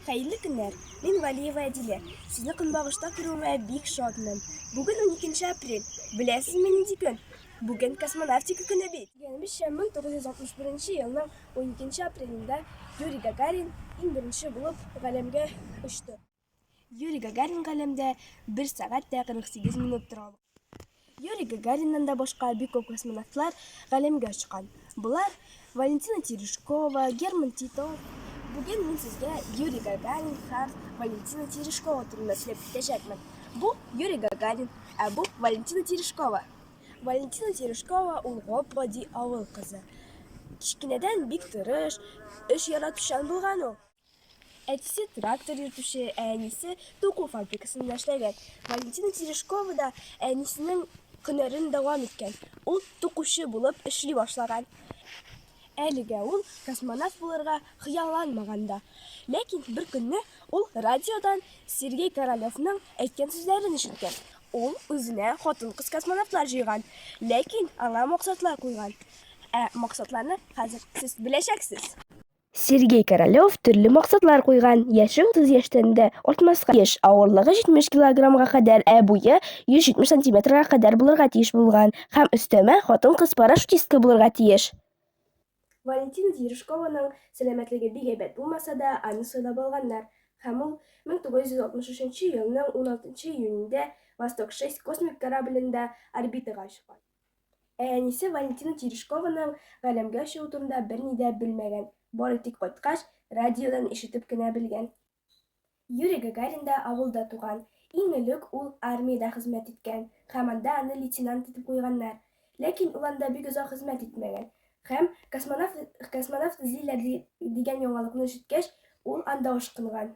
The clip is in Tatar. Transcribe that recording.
Хәерле көннәр! Мин Валиева Әдилә. Сезне көнбагышта күрүемә бик шатмын. Бүген 12 апрель. Беләсезме нинди көн? Бүген космонавтика көне бит. Дигәнебезчә, 1961 елның 12 апрелендә Юрий Гагарин иң беренче булып галәмгә очты. Юрий Гагарин галәмдә 1 сәгать тә 48 минут тора алган. Юрий Гагариннан да башка бик күп космонавтлар галәмгә очкан. Болар Валентина Терешкова, Герман Титов. Бүген мин сезгә Юрий Гагарин һәм Валентина Терешкова турында сөйләп китәчәкмен. Бу Юрий Гагарин, ә бу Валентина Терешкова. Валентина Терешкова ул гап-гади авыл кызы. Кечкенәдән бик тырыш, эш яратучан булган ул. Әтисе трактор йөртүче, ә әнисе туку фабрикасында эшләгән. Валентина Терешкова да әнисенең һөнәрен дәвам иткән. Ул тукучы булып эшли башлаган. Әлегә ул космонавт булырга хыялланмаган да. Ләкин бер көнне ул радиодан Сергей Королевның әйткән сүзләрен ишеткән. Ул үзенә хатын-кыз космонавтлар җыйган, ләкин аңа максатлар куйган. Ә максатларны хәзер сез беләчәксез. Сергей Королёв төрле максатлар куйган, яше 30 яшьтән дә артмаска тиеш, авырлыгы 70 килограммга кадәр, ә буе 170 сантиметрга кадәр булырга тиеш булган һәм өстәмә хатын-кыз парашютистка булырга тиеш. Валентина Терешкованың сәламәтлеге бик әйбәт булмаса да, аны сайлап алганнар, һәм ул 1963 елның 16 июнендә Восток-6 космик кораблендә орбитага очкан. Ә әнисе Валентина Терешкованың галәмгә чыгу турында берни дә белмәгән, бары тик кайткач, радиодан ишетеп кенә белгән. Юрий Гагарин да авылда туган. Иң элек ул армиядә хезмәт иткән һәм анда аны лейтенант итеп куйганнар. Ләкин ул анда бик озак хезмәт итмәгән һәм, космонавт эзлиләр дигән яңалыкны ишеткәч, ул анда ашкынган.